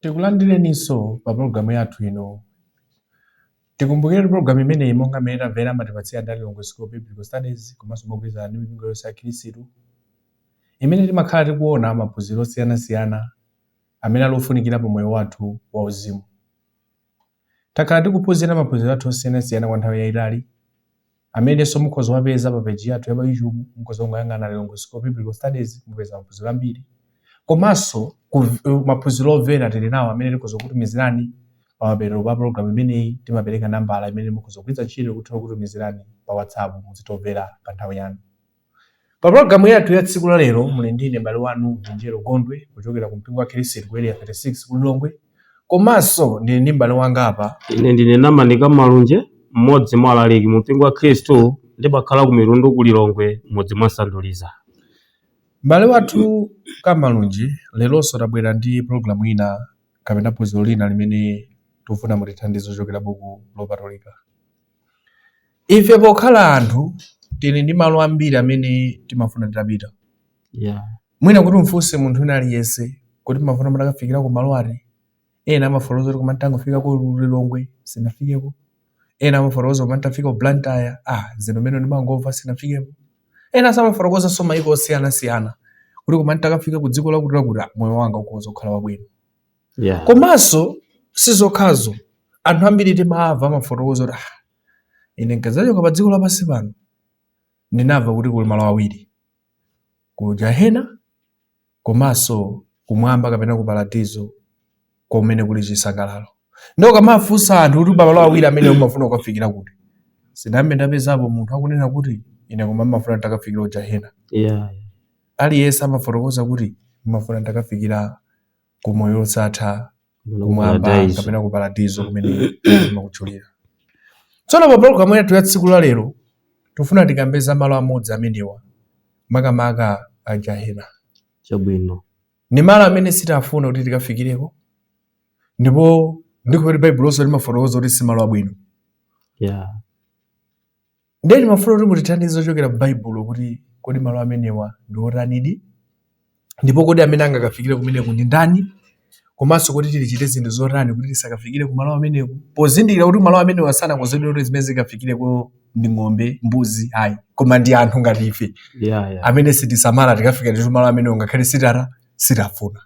Tikulandireninso pa pologalamu yathu ino. Tikumbukire kuti pologalamu imeneyi monga mmene tamvera amatipatsira nda Lilongwe School of Biblical Studies komanso mogwirizana ndi mipingo yonse ya Khristu imene timakhala tikuona maphunziro osiyanasiyana amene ali ofunikira pa moyo wathu wauzimu. Takhala tikuphunzira maphunziro athu osiyanasiyana kwa nthawi yaitali, amenenso mukhoza kuwapeza pa peji yathu ya pa YouTube. Mukhoza kungoyang'ana Lilongwe School of Biblical Studies, mupeza maphunziro ambiri. Komanso ku maphunziro omvera tili nawo amene tikhoza kukutumizirani pamapeto pa pologalamu imeneyi. Timapereka nambala imene mukhoza kugwiritsa ntchito kuti tithe kukutumizirani pa WhatsApp muzitomvera pa nthawi yanu. Pa pulogalamu yathu ya tsiku la lero muli ndi ine m'bale wanu Vinjero Gondwe kuchokera ku mpingo wa Khristu ku Area 36 ku Lilongwe. Komanso ndili ndi m'bale wanga apa ine ndine Namanika Kamalunji mmodzi mwa alaliki mu mpingo wa khristu ndimakhala ku mitundu ku lilongwe mudzi mwa sanduliza M'bale wathu Kamalunji leronso tabwera ndi pulogalamu ina kapena phunziro lina limene tikufuna mutithandize kuchokera buku lopatulika. ife pokhala anthu tili ndi malo ambiri amene timafuna titapita yeah. mwina kuti mfunse munthu wina aliyense kuti mumafuna mutakafikira ku malo ati ena amafotokoza kuti koma ntangofika ku lilongwe sinafikeko ena amafotokoza koma ntafika ku blantyre ah zino mene ndimangomva sinafikeko enanso amafotokozanso maiko osiyanasiyana kuti koma ntakafika ku dziko lakuti lakuti ah, moyo wanga ukhoza kukhala wabwino yeah. komanso si zokhazo anthu ambiri timamva amafotokoza kuti ah, ine nkazachoka pa dziko lapansi pano ndinamva kuti kuli malo awiri ku jahena komanso kumwamba kapena ku paradizo kumene kuli chisangalalo ndiye ukamafunsa anthu kuti pamalo awiri amenewa umafuna kukafikira kuti sindambe ndapezapo munthu akunena kuti ine koma mmafuna ntakafikira ku jahena yeah. aliyense amafotokoza kuti mmafuna ntakafikira ku moyo wosatha kumwamba Paradise. kapena ku paradizo kumene mwakutchulira tsono pa pologalamu yathu ya tsiku la lero tifuna tikambe za malo amodzi amenewa makamaka a jahena chabwino ni malo amene sitifuna kuti tikafikireko ndipo ndikuti baibulonso limafotokoza kuti si malo abwino ya Ndiye timafuna kuti mutithandize kuchokera m'Baibulo kuti kodi malo amenewa ndi otanidi ndipo kodi amene angakafikire kumeneko ndi ndani komanso kuti tichite zinthu zotani kuti tisakafikire ku malo ameneko pozindikira kuti malo amenewa sanakonzedwe kuti zimene zikafikireko ndi ng'ombe mbuzi ayi koma ndi anthu ngati ife yeah, yeah. amene tikapanda kusamala tikafika nditu malo amenewo ngakhale sitifu sitifuna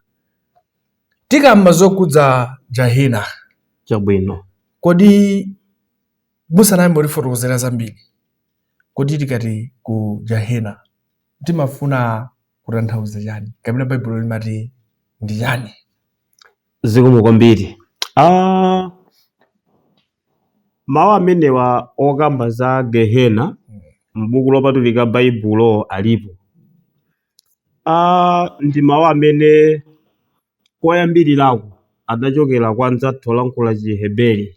tikamba zokhudza jahena chabwino kodi musanayambe kutifotokozera zambiri kodi tikati ku gehena timafuna kutanthauza chani kapena baibulo limati ndi chani zikomo kwambiri ah, mawu amenewa okamba za gehena m'buku lopatulika baibulo alipo ah, ndi mawu amene koyambirirako adachokera kwa anzathu olankhula Chiheberi.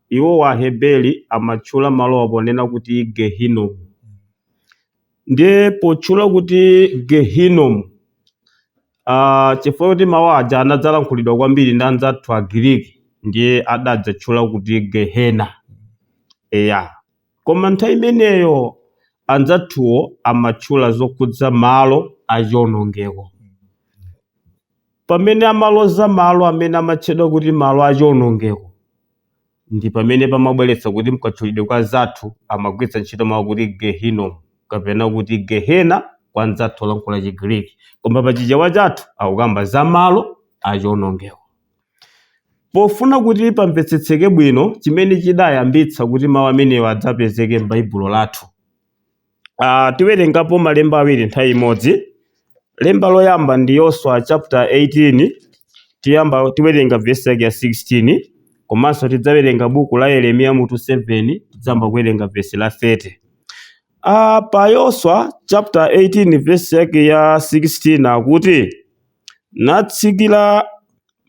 Iwowa Aheberi amatchula malowa ponena kuti Gehinomu. Ndiye potchula kuti Gehinomu, ah, chifukwa kuti mawu aja anadzalankhulidwa kwambiri ndi anzathu Agiriki, ndiye adadzatchula kuti Gehena. Eya. Koma nthawi imeneyo anzathuwo amatchula zokhudza malo achionongeko. Pamene amaloza malo amene amatchedwa kuti malo achionongeko, ndi pamene pamabweretsa kuti mkatchulidwe kwa anzathu amagwiritsa ntchito mawu kuti Gehinnom, kapena kuti Gehena kwa anzathu olankhula Chigiriki. Koma pa Chichewa chathu akukamba za malo achionongeko. Pofuna kuti pamvetsetseke bwino chimene chidayambitsa kuti mawu amenewa adzapezeke m'Baibulo lathu, a tiwerengapo malemba awiri nthawi imodzi. Lemba loyamba ndi Yoswa chapter 18, tiwerenga vesi yake ya 16, komanso tidzawerenga buku la Yeremiya mutu 7, tidzayamba kuwerenga vesi la 30. A pa Yoswa chapter 18 vesi yake ya 16 akuti, natsikira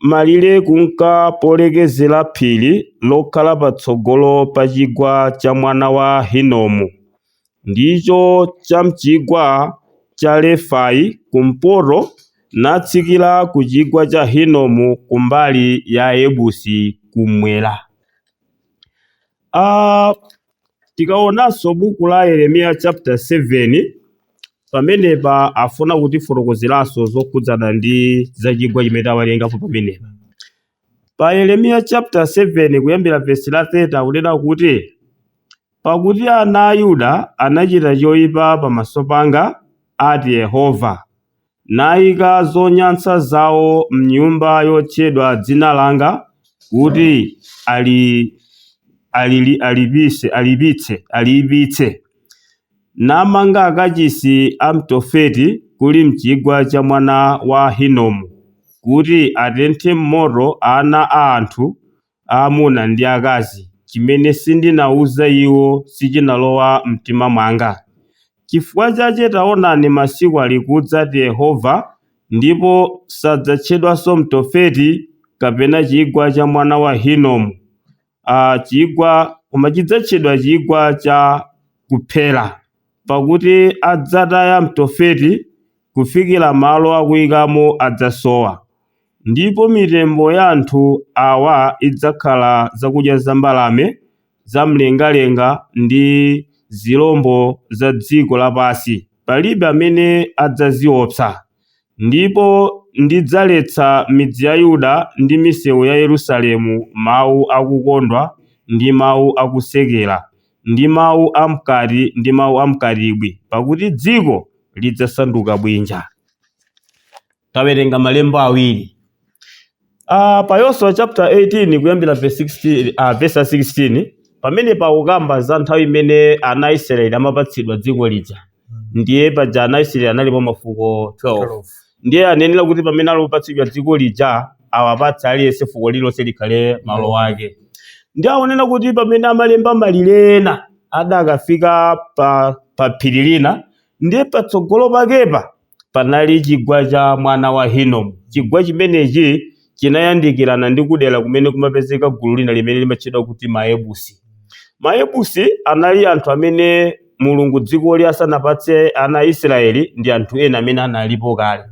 malire kunka polekezera phiri lokhala patsogolo pa chigwa cha mwana wa Hinomu, ndicho cha m'chigwa cha Refai kumpoto, natsikira ku chigwa cha Hinomu ku mbali ya Ayebusi kumwera. Ah, tikaonanso buku la Yeremiya chapter 7 pamenepa afuna kutifotokozeranso zokhudzana ndi za chigwa chimene tawerengapo pamenepa pa Yeremiya chapter 7 kuyambira vesi la 30 akunena kuti pakuti ana a Yuda anachita choyipa pamaso panga ati Yehova naika zonyansa zao m'nyumba yotchedwa dzina langa, kuti aliipitse, namanga akachisi a m'Tofeti kuli m'chigwa cha mwana wa Hinomu, kuti atenthe m'moto ana a anthu aamuna ndi akazi, chimene sindinauza iwo sichinalowa m'mtima mwanga. Cifukwa cace taonani masiku alikudza, ati Yehova, ndipo sadzatchedwanso Mtofeti, kapena chigwa cha mwana wa Hinomu, a, chigwa, koma chidzatchedwa chigwa cha kuphera. Pakuti adzataya m'Tofeti kufikira malo akuikamo adzasowa, ndipo mitembo ya anthu awa idzakhala zakudya za mbalame za mlengalenga ndi zirombo za dziko lapansi, palibe amene adzaziopsa. Ndipo ndidzaletsa midzi ya Yuda ndi misewu ya Yerusalemu mawu akukondwa ndi mawu akusekera, ndi mawu a mkati ndi mawu a mkatibwi, pakuti dziko lidzasanduka bwinja. Tawerenga malemba awiri Ah, pa Yoswa chapter 18 kuyambira verse 16, ah, verse 16 pamene pakukamba za nthawi imene ana a Israeli amapatsidwa dziko lija ndiye paja ana a Isiraeli analipo mafuko 12. ndiye anayenera kuti pamene ali kupatsidwa dziko lija awapatse aliyense fuko lililonse likhale malo ake ndiye anaona kuti pamene amalemba malire ena adakafika pa, pa phiri lina ndiye patsogolo pakepa panali chigwa cha mwana wa Hinomu. Chigwa chimenechi chinayandikirana ndi kudera kumene kumapezeka gulu lina limene limatchedwa kuti Maebusi. Maebusi anali anthu amene Mulungu dzikoli asanapatse ana a Isiraeli ndi anthu ena amene analipo kale.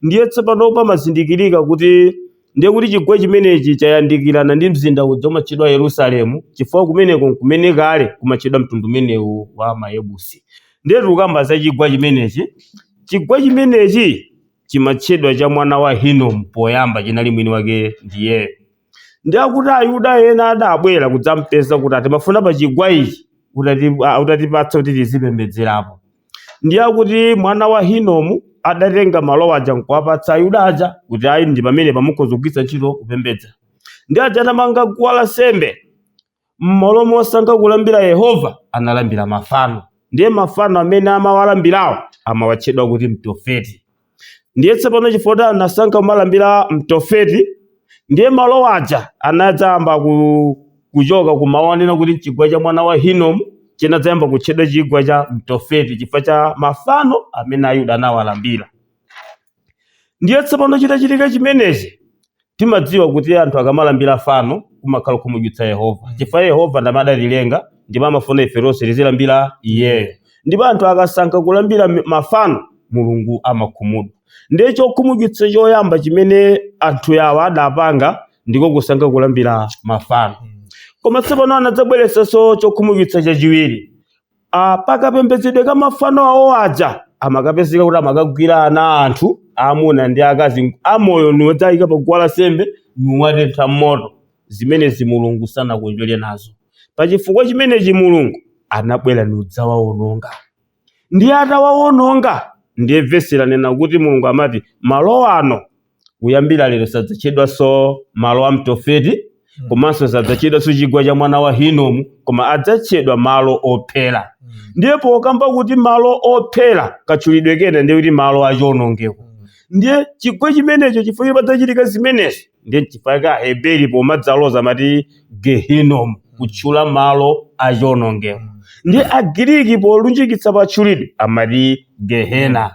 Ndiye tsopano pamazindikirika kuti Ndiye kuti chigwa chimenechi chayandikirana ndi mzinda uja umatchedwa Yerusalemu, chifukwa kumeneko n'kumene kale kumatchedwa mtundu umenewu wa Mayebusi. Ndiye tikukamba za chigwa chimenechi. Chigwa chimenechi chimatchedwa cha mwana wa Hinomu poyamba, chinali mwini wake ndiyeyo. Ndiye akuti Ayuda ena adabwera kudzampeza kuti timafuna pa chigwa ichi utati- ah, utatipatsa kuti tizipembedzerapo. Ndiye akuti mwana wa Hinomu adatenga malo aja nkuwapatsa Ayuda aja kuti ayi ndi pamenepa mukhoza kugwiritsa ntchito kupembedza. Ndiye aja atamanga guwa la nsembe m'malo mosankha kulambira Yehova analambira mafano. Ndiye mafano amene amawalambirawo amawatchedwa kuti Mtofeti. Ndiye tsopano chifukwa kuti anasankha kumalambira Mtofeti, ndiye malo aja anadzayamba ku- kuchoka kumawu anena kuti mchigwa cha mwana wa Hinomu chinadzayamba kutchedwa chigwa cha Mtofeti chifukwa cha mafano amene Ayuda anawalambira. Ndiye tsopano chitachitika chimenechi, Timadziwa kuti anthu akamalambira fano kumakhala kukhumudwitsa Yehova chifukwa Yehova ndi amene adatilenga ndipo amafuna ife tonse tizilambira Iyeyo. Ndipo anthu akasankha kulambira mafano, Mulungu amakhumudwa. Ndiye chokhumudwitsa choyamba chimene anthu awa adapanga ndiko kusankha kulambira mafano. Koma tsopano anadzabweretsanso chokhumudwitsa chachiwiri. pakapembedzedwe ka mafano awo aja amakapezeka kuti amakagwira ana a anthu aamuna ndi akazi amoyo niwodzaika pa guwa lansembe niwatentha m'moto zimenezi mulungu sanakondwere nazo pa chifukwa chimenechi mulungu anabwera niudzawawononga ndiye atawawononga ndiye vesi lanena kuti mulungu amati malo ano kuyambira lero sadzatchedwanso malo a mtofeti komanso sadzatchedwanso chigwa cha mwana wa hinomu koma adzatchedwa malo ophera ndiye pokamba kuti malo ophera katchulidwe kena ndiye kuti malo achionongeko ndiye chigwa chimenecho chifukwa padzachitika zimenezi ndiye chifukwa aheberi pomadzaloza amati Gehinnom, kutchula malo a chionongeko. Ndi a Giriki polunjikitsa patchulidwe amati Gehena.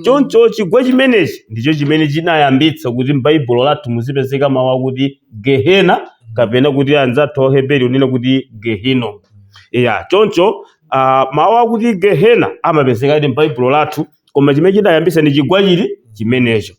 Choncho chigwa chimenechi ndicho chimene chinayambitsa kuti m'Baibulo lathu muzipezeka mau akuti Gehena kapena kuti anzathu a Heberi kunena kuti Gehinnom. Eya, choncho ah, mau akuti Gehena amapezekadi m'Baibulo lathu koma chimene chinayambitsa ndi chigwa chija chimenecho.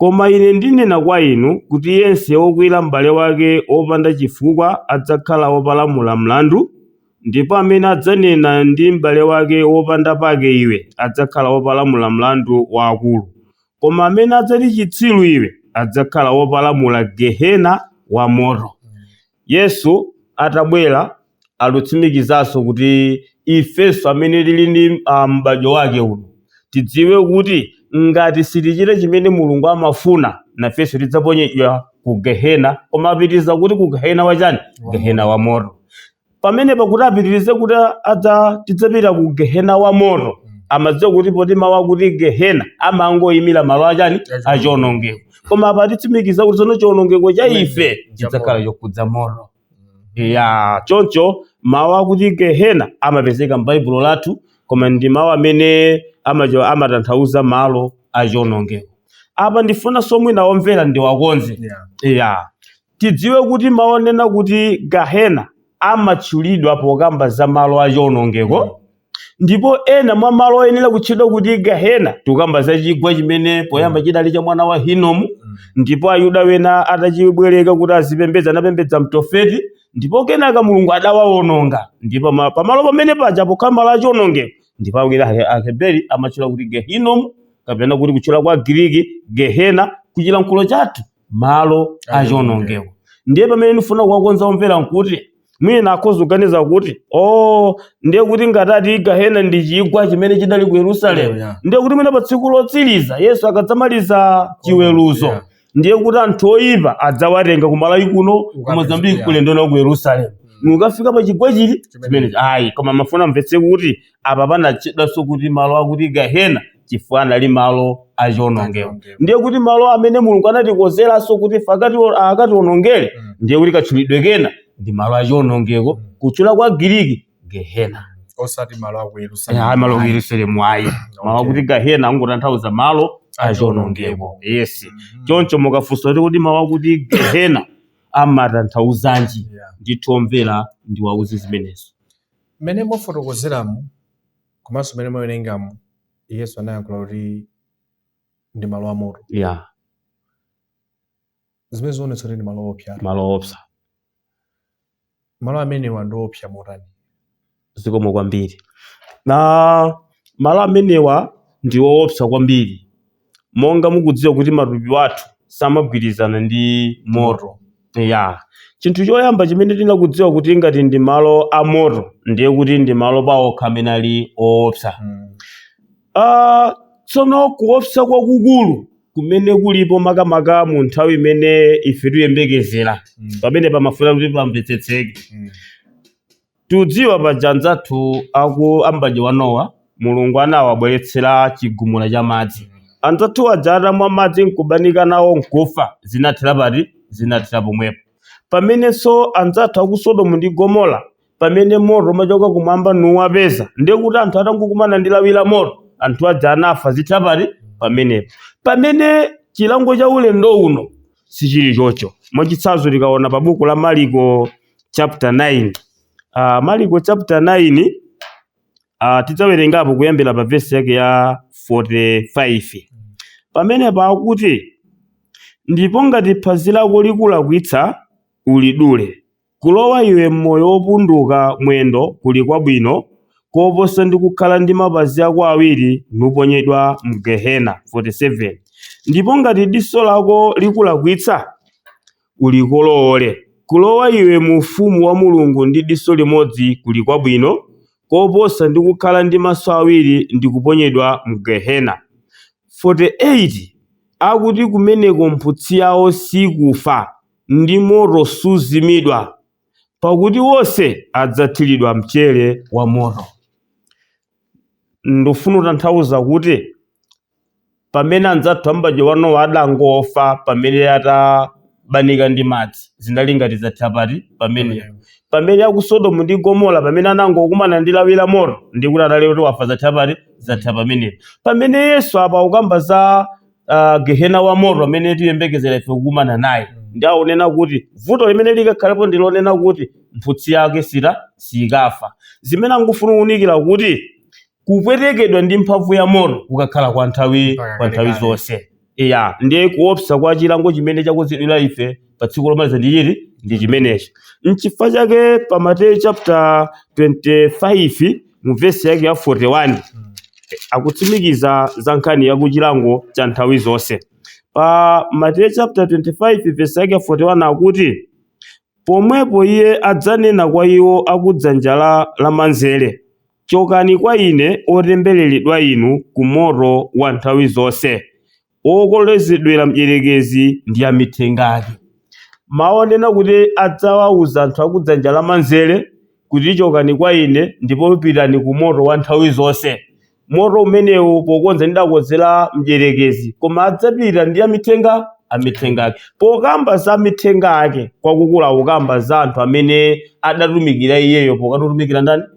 Koma ine ndinena kwa inu, kuti yense wokwiyira mbale wake wopanda cifukwa adzakhala wopalamula mlandu, ndipo amene adzanena ndi mbale wake wopanda pake iwe adzakhala wopalamula mlandu wa akulu, koma amene adzati citsiru iwe adzakhala wopalamula gehena wamoto. Yesu atabwera akutsimikizanso kuti ifenso amene tili ndi ah, m'badwo wake uno tidziwe kuti ngati sitichita chimene Mulungu amafuna nafenso tidzaponyedwa ku gehena koma apitiriza kuti ku gehena wa chani Wa gehena moto. wa moto pamene pakuti apitirize kuti adza tidzapitira ku gehena wa moto Mm. amadziwa kuti poti mawu akuti gehena amangoyimira malo achani Achionongeko. achionongeko koma apa atitsimikiza kuti tsono chiwonongeko cha ife chidzakhala chokhudza moto ya choncho mawu akuti gehena amapezeka m'baibulo lathu koma ndi mawu amene amacho- amatanthauza malo a chiwonongeko apa ndifuna somwe ena omvera ndiwakonze Yeah. ya Tidziwe kuti mau onena kuti Gahena amatchulidwa pokamba za malo a chionongeko, ndipo ena mwa malo oyenera kutchedwa kuti Gahena tikukamba za chigwa chimene poyamba chidali cha mwana wa Hinomu, ndipo Ayuda wena atachibwereka kuti azipembedza anapembedza Mtofeti, ndipo kenaka Mulungu adawaononga, ndipo ma- pamalo pamene paja pokhala malo a chionongeko, ndipo Aheberi amatchula kuti Gehinomu, kapena kuti kutchula kwa Giriki Gehena, kuchilankhulo chathu malo a chionongeko ndiye pamene ndifuna kuwakonza omvera nkuti mwina akhoza kuganiza kuti o oh, ndiye kuti ngati tati gahena ndi chigwa chimene chidali ku yerusalemu yeah, yeah. ndiye kuti mwina pa tsiku lotsiriza yesu akadzamaliza chiweruzo yeah. ndiye kuti anthu oyipa adzawatenga ku malawi kuno ku mozambiki kuyenda nawo ku yerusalemu mm. nkukafika pa chigwa chili chimenechi ayi koma ndimafuna amvetse kuti apa panatchedwanso kuti malo akuti gahena chifukwa anali malo achionongeko Achionongeko. ndiye kuti malo amene mulungu anawakonzeranso kuti ife akati- akationongere Mm. ndiye kuti katchulidwe kake ndi malo achionongeko Mm. kutchula kwa giriki gehena osati malo aku yerusalemu ayi malo ku yerusalemu ayi malo Okay. akuti gahena angotanthauza malo achionongeko yes Mhm. choncho mukafunsa kuti kuti mawu akuti gehena amatanthauzanji Yeah. ndithu omvera ndiwauze zimenezo Mmene mwafotokozeramu komanso mmene mwawerengamu Yesu anayankhula kuti ndi malo amoto. Yeah. Zimene zoonetsa kuti ndi malo oopsa. Malo oopsa. Malo amenewa ndi oopsa motani? Zikomo kwambiri. A malo amenewa ndi oopsa kwambiri monga mukudziwa kuti matupi athu samagwirizana ndi moto ya chinthu choyamba chimene tinakudziwa kuti ngati ndi malo a moto ndiye kuti ndi malo paokha amene ali oopsa Ah, tsono kuopsa kwakukulu kumene kulipo makamaka mu nthawi imene ife tiyembekezera pamene pamafuna kuti pamvetsetseke Tidziwa paja anzathu aku m'badwo wa Nowa Mulungu anawabweretsera chigumula cha madzi. Anzathu aja atamwa madzi nkubanika nawo nkufa, zinathera pati? Zinathera pomwepo. Pamenenso anzathu aku Sodomu ndi Gomora pamene moto umachoka kumwamba nuwapeza, ndiye kuti anthu atangokumana ndi lawi la moto, anthu aja anafa, zithera pati? Pamenepo. Pamene chilango cha ulendo uno sichili choncho. Mwachitsanzo tikaona pa buku la Maliko chapter 9 uh, ah, Maliko chapter 9 uh, ah, tidzawerengapo kuyambira pa vesi yake ya 45 pamene pakuti ndipo ngati phazi lako likulakwitsa ulidule kulowa iwe m'moyo wopunduka mwendo kuli kwabwino koposa ndi kukhala ndi mapazi ako awiri nuponyedwa mgehena 47 ndipo ngati diso lako likulakwitsa ulikolowole. Kulowa iwe mu Ufumu wa Mulungu ndi diso limodzi kuli kwabwino koposa ndi kukhala ndi maso awiri ndi kuponyedwa mgehena. 48 akuti kumeneko mphutsi yawo sikufa, ndi moto suzimidwa, pakuti wonse adzathiridwa mchere wa moto. Ndifuna kutanthauza kuti pamene anzathu a mbadwo wa Nowa adangofa pamene adabanika ndi madzi zinali ngati zathera pati pamenepo pamene aku sodomu ndi gomora pamene anangokumana ndi lawi la moto ndi kuti anali kuti wafa zathera pati zathera pamenepo pamene yesu apa akukamba za uh, gehena wa moto amene tiyembekezera ife kukumana naye ndi akunena kuti vuto limene likakhalapo ndi lonena kuti mphutsi yake sita siyikafa zimene akufuna kuunikira kuti kupwetekedwa ndi mphamvu ya moto kukakhala kwa nthawi Mpaka kalekale. zonse iya ndiye kuopsa kwa chilango chimene chakonzedwira ife pa tsiku lomaliza ndi chiti ndi chimenechi mchifukwa chake pa mateyu chapter 25 mu vesi yake ya 41 Mm. akutsimikiza za nkhani ya kuchilango cha nthawi zonse pa mateyu chapter 25 vesi yake ya 41 akuti pomwepo iye adzanena kwa iwo akudzanja lamanzere Chokani kwa ine, otembereredwa inu, ku moto wa nthawi zonse, wokolezedwera mdyerekezi ndi amithenga ake. Mawu onena kuti adzawauza anthu a kudzanja lamanzere kuti chokani kwa ine ndipo pitani ku moto wa nthawi zonse. Moto umenewu pokonza ndidakonzera mdyerekezi, koma adzapita ndi amithenga amithenga ake. Pokamba za amithenga ake, kwakukulu akamba za anthu amene adatumikira iyeyo pokati otumikira ndani?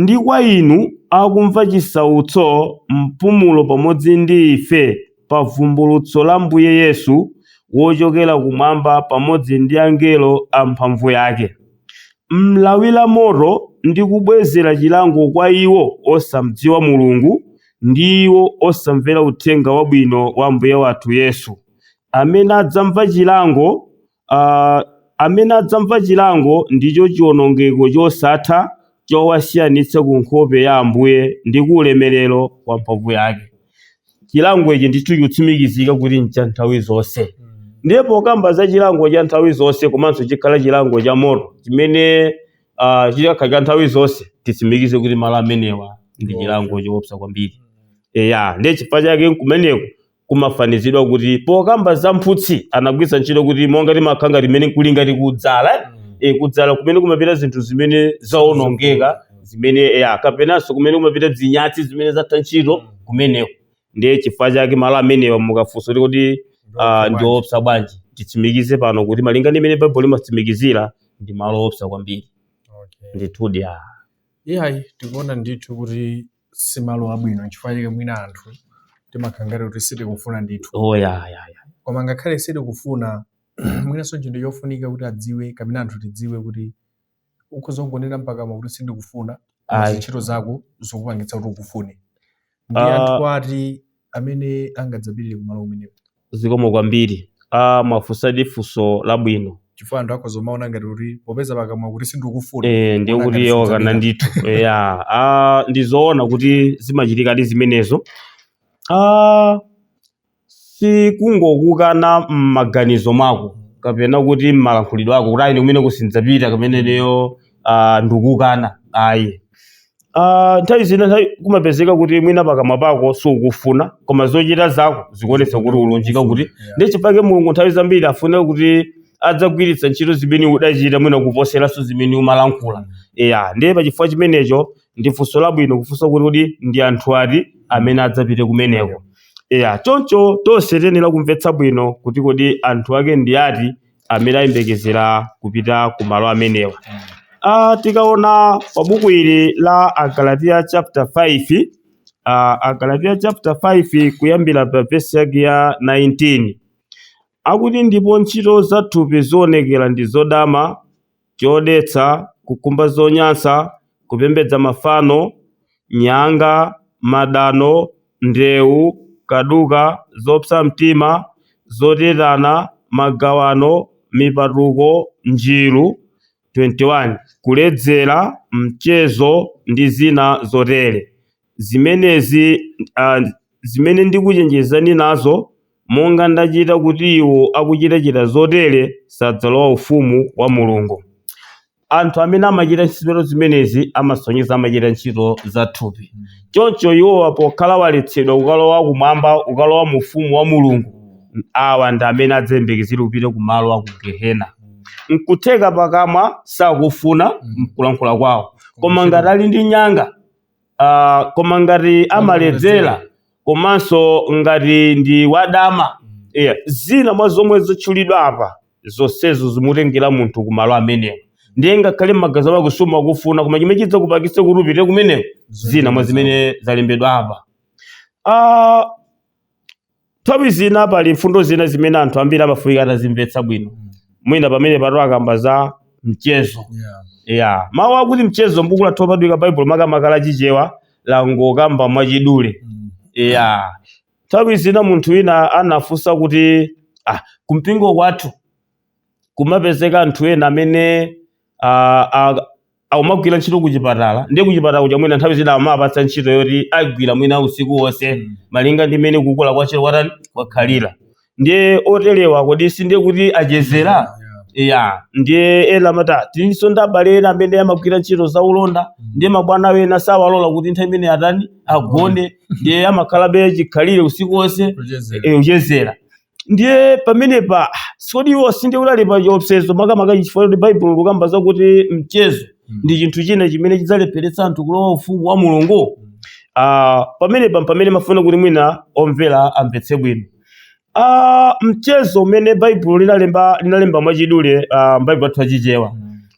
Ndi kwa inu akumva chisautso mpumulo pamodzi ndi ife pa vumbulutso la Mbuye Yesu wochokera kumwamba pamodzi ndi angelo a mphamvu yake, m'lawi la moto ndi kubwezera chilango kwa iwo osamdziwa Mulungu ndi iwo osamvera Uthenga Wabwino wa Ambuye wathu Yesu, amene adzamva chilango amene adzamva chilango ndicho chiwonongeko chosatha chowasiyanitsa ku nkhope ya Ambuye ndi ku ulemerero wa mphamvu yake. Chilango ichi ndithu chikutsimikizika kuti ncha nthawi zonse. Ndiye pokamba za chilango cha nthawi zonse komanso chikhala chilango cha moto chimene uh, chikakhala cha nthawi zonse titsimikize kuti malo amenewa ndi chilango choopsa kwambiri. Eya, ndiye chifukwa chake nkumeneko kumafanizidwa kuti pokamba za mphutsi anagwiritsa ntchito kuti monga Limakhala limene nkulinga ati kudzala eh? Mm. e, kudzala kumene kumapita zinthu zimene zaonongeka zimene ya kapenanso kumene kumapita zinyatsi zimene zatha ntchito Mm. kumeneko ndiye chifukwa chake malo amenewa mukafunsa kuti kodi ah, ndi oopsa bwanji titsimikize pano kuti malinga ndi mmene baibulo limatsimikizira ndi malo oopsa kwambiri Okay. ndithudi ah. iyayi tikuona ndithu kuti si malo abwino nchifukwa chake mwina anthu timakhala ngati kuti sitikufuna ndithu oh ya ya ya koma ngakhale sitikufuna mwinanso chinthu chofunika kuti adziwe kapena anthu tidziwe kuti ukhoza kungonena m'pakamwa kuti sindikufuna koma ntchito zako zikupangitsa kuti ukufune ndi Ah. anthu ati amene angadzapirire kumalo amenewo Zikomo kwambiri a mwafunsadi funso labwino. chifukwa anthu akhoza kumaona ngati kuti popeza pakamwa kuti sindikufuna Eh, ndiye kuti iye wakana ndithu eya ah, ndizoona kuti zimachitikadi zimenezo ah, sikungokukana m'maganizo mwako kapena kuti m'malankhulidwe ako kuti ayi ine kumeneku sindidzapita kapena ineyo ah, ndikukana ayi Ah, nthawi zina kumapezeka kuti mwina pakamwa pako sukufuna koma zochita zako zikuonetsa kuti ulunjika kuti ndiye chifukwa Mulungu nthawi zambiri afuna kuti adzagwiritse ntchito zimene udachita mwina kuposeranso zimene umalankhula eya ndiye pachifukwa chimenecho ndi funso labwino kufunsa kuti kodi ndi anthu ati amene adzapite kumeneko eya choncho tonse tiyenera kumvetsa bwino kuti kodi anthu ake ndi ati amene ayembekezera kupita ku malo amenewa. Uh, tikaona pa buku ili la Agalatiya chapter 5 uh, Agalatiya chapter 5 kuyambira pa vesi yake ya 19 akuti ndipo ntchito za thupi zionekera ndizo dama chodetsa, kukhumba zonyansa, kupembedza mafano, nyanga, madano, ndewu, kaduka, zopsa mtima, zotetana, magawano, mipatuko, njiru, 21 kuledzera, mchezo, ndi zina zotere. Zimenezi, a, zimene ndikuchenjezani nazo, monga ndachita kuti iwo akuchitachita zotere sadzalowa ufumu wa Mulungu. Anthu amene amachita ntchito zimenezi amasonyeza amachita ntchito za thupi. Choncho iwowa pokhala waletsedwa kukalowa kumwamba, kukalowa mu ufumu wa Mulungu, awa ndi amene adzayembekezera kupita ku malo a ku gehena. Nkutheka pakamwa sakufuna mkulankhula kwawo, koma ngati ali ndi nyanga, ah, koma ngati amaledzera komanso ngati ndi wadama yeah. zina mwa zomwe zatchulidwa apa zonsezo zimutengera munthu kumalo amenewo ndiye ngakhale m'maganizo ako sumafuna koma chimene chidzakupangitse kuti upite kumeneko zina mwa zimene zalembedwa apa Ah, Nthawi zina pali mfundo zina zimene anthu ambiri amafunika atazimvetsa bwino. Mm. Mwina pamene patu akamba za mchezo. Yeah. Yeah. Mawu akuti mchezo m'buku lathu lopatulika Baibulo makamaka la Chichewa langokamba mwachidule. Mm. Yeah. Nthawi zina munthu wina anafunsa kuti ah, kumpingo kwathu kumapezeka anthu ena amene ah, ah, akumagwira ntchito kuchipatala ndiye kuchipatala kuja mwina nthawi zina amapatsa ntchito yoti agwire mwina usiku wonse Mm. malinga ndi mmene kukula kwa ntchito kwatani kwakhalira ndiye oterewa kodi si ndiye kuti achezera Yeah. ya ndiye ena amata tilinso ndi abale ena amene amagwira ntchito za ulonda ndiye mabwana wena sawalola kuti nthawi imene atani agone ndiye amakhalabe chikhalire usiku wonse Kuchezera. e, kuchezera ndiye pamenepa kodi iwo sindiye kuti ali pa chiopsezo makamaka chifukwa chakuti baibulo likukamba zakuti mchezo ndi chinthu china chimene chidzalepheretsa anthu kulowa ufumu wa mulungu Ah, pamenepa mpamene ndimafuna kuti mwina omvera amvetse bwino Ah, mchezo umene baibulo linalemba linalemba mwachidule ah, m'baibulo athu achichewa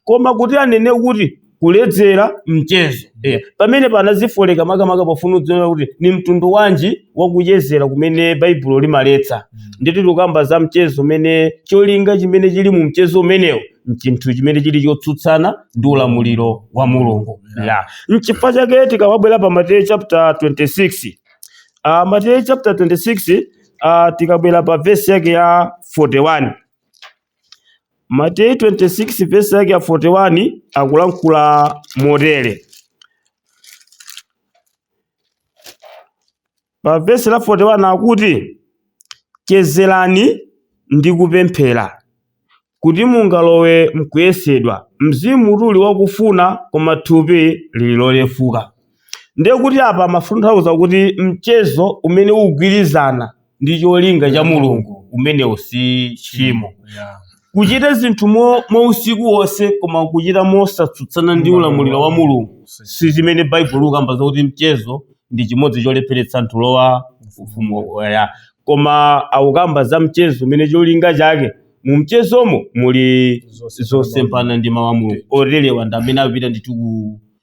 koma kuti anene kuti kuledzera mchezo eh, pamene panazifoleka makamaka pofuna kudziwa kuti ndi mtundu wanji wakuchezera kumene baibulo limaletsa ndiye kuti tikukamba za mchezo umene cholinga chimene chili mu mchezo umenewo nchinthu chimene chili chotsutsana ndi ulamuliro wa mulungu ya nchifukwa chake tikabwera pa mateyu chapter 26 uh, mateyu chapter 26 uh, tikabwera pa vesi yake ya 41 Mateyu 26 vesi yake ya 41 akulankhula motere pa vesi la 41 akuti chezerani ndi kupemphera kuti mungalowe mkuyesedwa mzimutu uli wakufuna koma thupi lili lolefuka ndiye kuti apa amatanthauza kuti mchezo umene ukugwirizana ndi cholinga cha mulungu umenewo si tchimo Yeah. kuchita zinthu mo- mwausiku wonse koma kuchita mosatsutsana ndi ulamuliro wa mulungu si chimene baibulo likukamba zakuti mchezo ndi chimodzi cholepheretsa anthu kulowa ufumu wa ya koma akukamba za mchezo umene cholinga chake mu mchezomo muli zosemphana ndi mawu a mulungu oterewa ndi amene akupita ndithu ku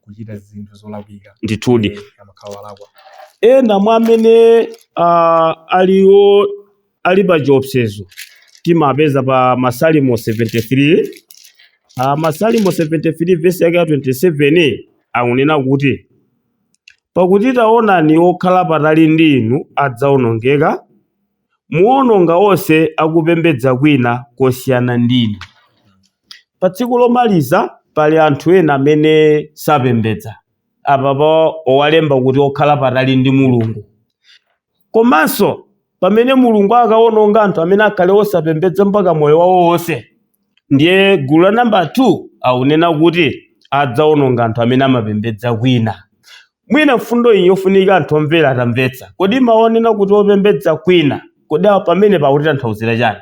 kuchita zinthu zolakwika Ndithudi. kumene amakhala walakwa. Ena mwa amene ah, ali o- ali pa chiopsezo timapeza pa Masalimo 73 ah, Masalimo 73 vesi yake ya 27 akunena kuti pakuti taonani okhala patali ndi inu adzawonongeka muwononga onse akupembedza kwina kosiyana ndinu. Pa tsiku lomaliza pali anthu ena amene sapembedza. Apapa awalemba kuti okhala patali ndi Mulungu. Komanso pamene Mulungu akawononga anthu amene akhale osapembedza mpaka moyo wawo wonse. Ndiye gulu la namba 2 akunena kuti adzawononga anthu amene amapembedza kwina. Mwina mfundo iyi njofunika kuti anthu omvera atamvetsa. Kodi mawu onena kuti opembedza kwina, kodi a, pamenepa akutitanthauzira chani?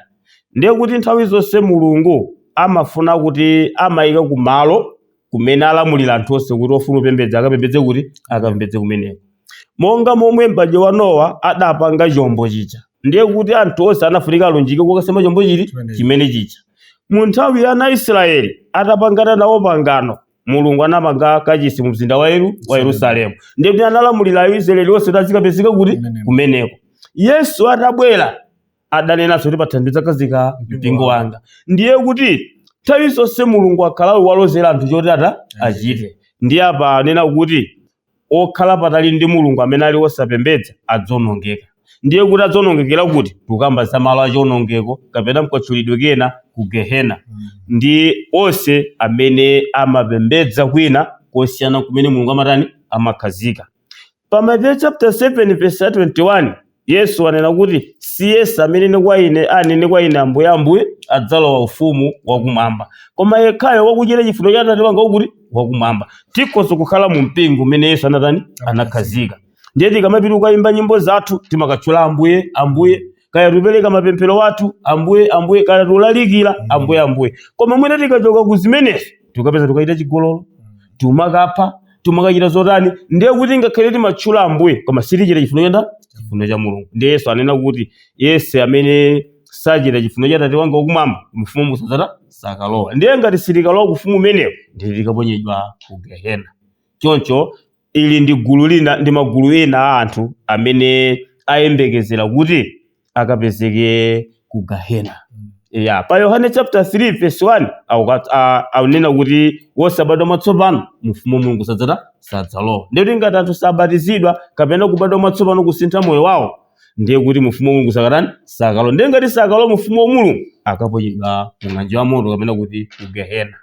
Ndiye kuti nthawi zonse Mulungu amafuna kuti amaika ku malo kumene alamulira anthu onse kuti ofuna kupembedza akapembedze kuti? Akapembedze kumeneko. Monga momwe m'badwo wa Nowa adapanga chombo chija, ndiye kuti anthu onse anafunika alunjike kukasema chombo chiti? Chimene chija. Mu nthawi ya ana a Israeli atapangana nawo pangano, mulungu anamanga kachisi mu mzinda wa Yeru- wa yerusalemu ndiye kuti analamulira aisraeli onse kuti azikapezeka kuti Kumeneko. kumeneko yesu atabwera adanenanso kuti pathanthwe ndidzakhazika mpingo wanga ndiye kuti nthawi zonse mulungu akhala akuwalozera anthu choti ata achite ndiye apa anena kuti okhala patali ndi Mulungu amene ali osapembedza adzonongeka. Ndiye kuti adzonongekera kuti? Tikukamba za malo a chionongeko kapena mkatchulidwe kena ku Gehena. Ndi onse amene amapembedza kwina kosiyana nkumene Mulungu amatani? Amakhazika. Pa Mateyu chapter 7 verse 21. Yesu anena kuti, Siyense amene nena kwa ine anene kwa ine Ambuye, Ambuye, adzalowa ufumu wakumwamba, koma yekhayo wakuchita chifuniro cha Atate wanga wakuti wakumwamba. Tikhoza kukhala mu mpingo umene Yesu anatani anakhazika. Ndiye tikamapita kukayimba nyimbo zathu timakatchula Ambuye, Ambuye, kaya tupereka mapemphero athu Ambuye, Ambuye, kaya tulalikira Ambuye, Ambuye. Koma mwina tikachoka ku zimenezo tukapeza tukachita chigololo tumakapha tumakachita zotani ndiye kuti ngakhale timatchula ambuye koma sitichita chifuno cha nda chifuno cha mulungu ndiye yesu anena kuti yense amene sachita chifuno cha tate wanga wakumwamba mu ufumu sadzatani sakalowa ndiye ngati sitikalowa kufumu umenewo ndiye tikaponyedwa ku gehena choncho Ili ndi gulu lina ndi magulu ena a anthu amene ayembekezera kuti akapezeke ku Gehena. Ya, pa Yohane chapter 3 verse 1 akukat- a- akunena kuti wosabadwa mwatsopano mu ufumu wa Mulungu sadzatani sadzalowa. Ndiye kuti ngati anthu sabatizidwa kapena kubadwa mwatsopano kusintha moyo wawo ndiye kuti mu ufumu wa Mulungu sakatani sakalowa. Ndiye ngati sakalowa mu ufumu wa Mulungu akaponyedwa mu ng'anjo ya moto kapena kuti ku Gehena.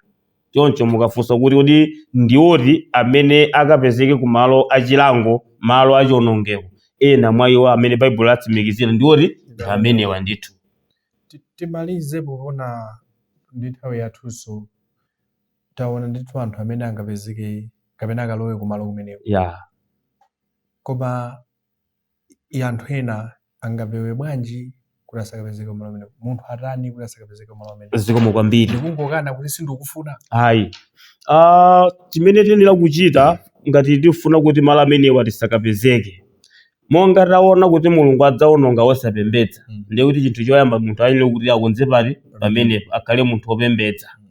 Choncho mukafunsa kuti, Kodi ndi oti amene akapezeke ku malo a chilango, malo a chionongeko? Ena mwa iwo amene Baibulo latsimikizira ndi oti ndi amenewa ndithu. Ti- timalize poona ndi nthawi yathunso taona ndithu anthu amene angapezeke kapena akalowe kumalo kumeneko Ya. koma i anthu ena angapewe bwanji kuti asakapezeke kumalo kumeneko munthu atani kuti asakapezeke kumalo kumeneko zikomo kwambiri ndikungokana kuti sindikufuna ayi ah, chimene tiyenera kuchita ngati tifuna kuti malo amenewa tisakapezeke monga taona kuti mulungu adzaononga osapembedza Mm. ndiye kuti chinthu choyamba munthu ayenera kuti akonze pati pamenepo akhale munthu opembedza Mm.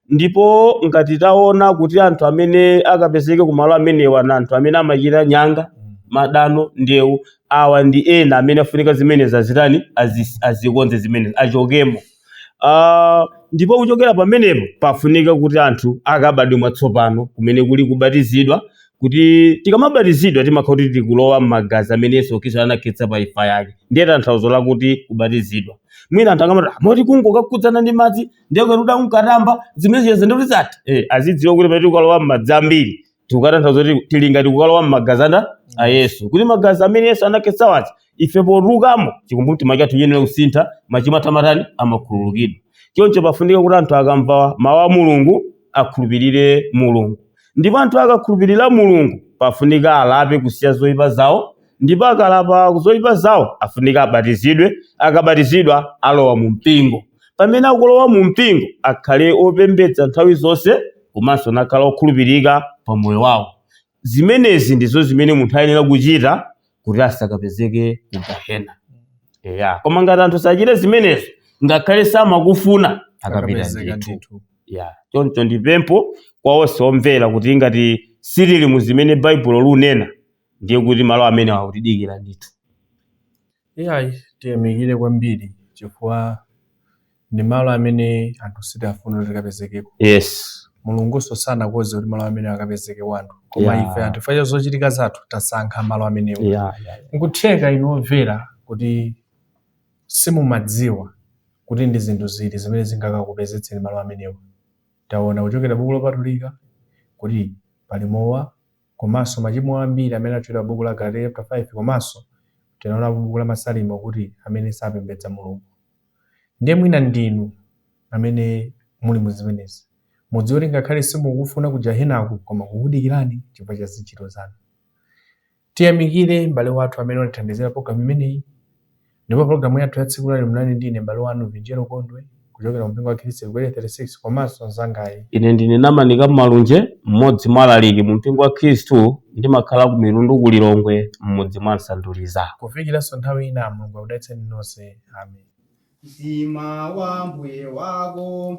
Ndipo ngati taona kuti anthu amene akapezeke kumalo amenewa na anthu amene amachita nyanga, madano, ndewu, awa ndi ena amene afunika zimenezi azitani, azikonze zimenezi, achokemo. Ah, ndipo kuchokera pamenepo pafunika kuti anthu akabadwe mwatsopano kumene kuli kubatizidwa kuti tikamabatizidwa timakhala kuti tikulowa m'magazi amene yesu khristu anakhetsa pa imfa yake ndiye tanthauzo lakuti kubatizidwa mwina anthu akamati "Ah, moti kungokakhudzana ndi madzi ndiye kuti uda unkatamba zimene zija ndi kuti tisati eh azidziwa kuti pamene tikukalowa m'madzi ambiri tikukatanthauza kuti tili ngati kukalowa m'magazi anda a yesu kuti magazi amene yesu anakhetsa wazi ife potulukamo chikumbumtima chathu chiyenera kusintha machimo athu amatani amakhululukidwa choncho pafunika kuti anthu akamva mawu a mulungu akhulupirire mulungu ndipo anthu akakhulupirira mulungu pafunika alape kusiya zoyipa zawo ndipo akalapa ku zoipa zawo afunika abatizidwe akabatizidwa alowa mu mpingo pamene akulowa mu mpingo akhale opembedza nthawi zonse komanso nakhala okhulupirika pa moyo wawo zimenezi ndizo zimene munthu ayenera kuchita kuti asakapezeke ku gahena eya koma ngati anthu sachita zimenezi ngakhale samakufuna akapita Akapezeka ndithu ndithu. ya choncho ndipempho kwa onse omvera kuti ngati sitili mu zimene baibulo lunena ndiye kuti malo amenewa akutidikira ndithu. Iyayi, tiyamikire kwambiri chifukwa ndi malo amene anthu sitifuna kuti tikapezekeko. Yes. Mulungunso sanakonze kuti malo amenewa akapezekeko anthu, koma Yeah. ife anthu chifukwa cha zochitika zathu tasankha malo amenewo. Yeah, yeah, yeah. Nkutheka inu omvera kuti simumadziwa kuti ndi zinthu ziti zimene zingakakupezetseni malo amenewa. Taona kuchokera buku lopatulika kuti pali mowa, komanso machimo ambiri amene atchulidwa m'buku la Agalatiya chaputala 5 komanso tinaonapo m'buku la Masalimo kuti amene sapembedza Mulungu. Ndiye mwina ndinu amene muli mu zimenezi. Mudziwe kuti ngakhale simukufuna ku Gehenaku koma kukudikirani chifukwa cha zintchito zanu. Tiyamikire m'bale wathu amene watithandizira pulogalamu imeneyi. Ndipo pulogalamu yathu ya tsiku lalero munali ndi ine m'bale wanu Vinjero Gondwe kuchokera kumpingo wa Khristu ku Area 36 komanso mnzangayi. Ine ndine Namanika Malunje, mmodzi mwa alaliki mumpingo wa Khristu ndimakhala ku Mitundu ku Lilongwe m'mudzi mwa Nsanduliza. Kufikiranso nthawi ina, Mulungu akudalitseni nonse. Amen. Mtima wa Mbuye wako.